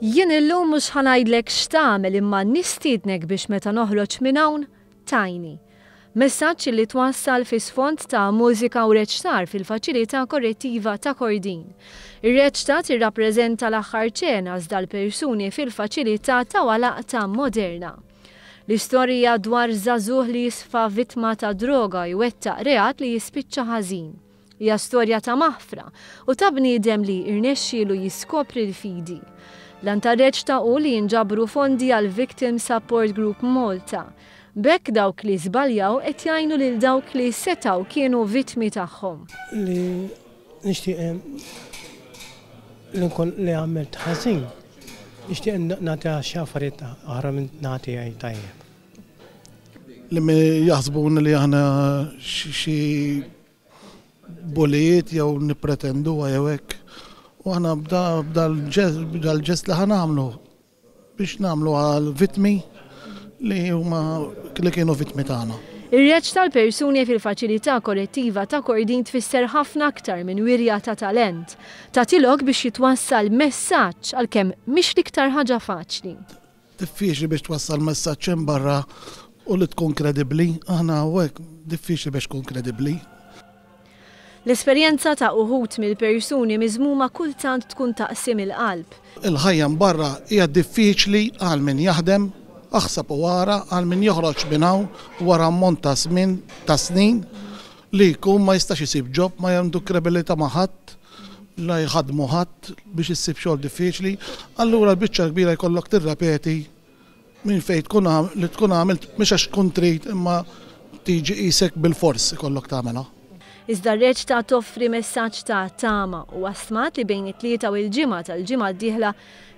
Jien illum mhux ħa ngħidlek x'tagħmel imma nistiednek biex meta noħroġ minn hawn, Tiny. Messaġġ li twassal fi sfond ta' mużika u reċtar fil-Faċilità Korrettiva ta' Kordin. Ir-reċta tirrappreżenta l-aħħar ċena żda l-persuni fil-faċilità tawha laqta moderna. L-istorija dwar żagħżugħ li jisfa vittma ta' droga jwettaq reat li jispiċċa ħażin. Hija storja ta' maħfra u ta' bniedem li rnexxielu jiskopri l-fidi. L-għan tar-reċta hu li jinġabru fondi għall-Victim Support Group Malta. B'hekk dawk li żbaljaw qed jgħinu lil dawk li setgħu kienu vittmi tagħhom. Li nixtieq li nkun li għamilt ħażin, nixtieq nagħtiha xi affarijiet oħra min-naħa tiegħi tajjeb. Li jaħsbuni li aħna xi bullijiet jew nippretenduha jew hekk. U aħna b'dal-ġest li ħa nagħmlu biex nagħmlu għal vittmi li huma li kienu vittmi tagħna. Ir-reaġġ tal-persuni fil-Faċilità Korrettiva ta' Kordin tfisser ħafna aktar minn wirja ta' talent. Tagħti lok biex jitwassal messaġġ, għalkemm mhix l-iktar ħaġa faċli. Diffiċli biex twassal messaġġ hemm barra u li tkun kredibbli. Aħna hawnhekk diffiċli biex tkun kredibbli. L-esperjenza ta' uħud mill-persuni miżmuma kultant tkun taqsim il-qalb. Il-ħajja hemm barra hija diffiċli għal min jaħdem, aħseb u ara għal min joħroġ minn hawn wara ammont ta' żmien ta' snin Li jkun ma jistax isib job ma għandu krebilita ma ħadd, la jħaddmu ħadd biex issib xogħol diffiċli, allura l-biċċa l-kbira jkollok tirrepeti minn fejn tkun li tkun għamilt mhux għax tkun trid imma tiġi qisek bilfors ikollok tagħmilha. Iżda r-reċta toffri messaġġ ta' tama, huwa stmat li bejn it-Tlieta u l-Ġimgħa tal-ġimgħa d-dieħla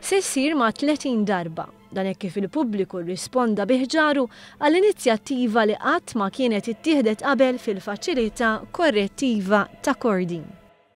se ssir ma' 30 darba. Dan hekk kif il-pubbliku rrisponda bi ħġaru għal inizjattiva li qatt ma kienet ittieħdet qabel fil-Faċilità Korrettiva ta' Kordin.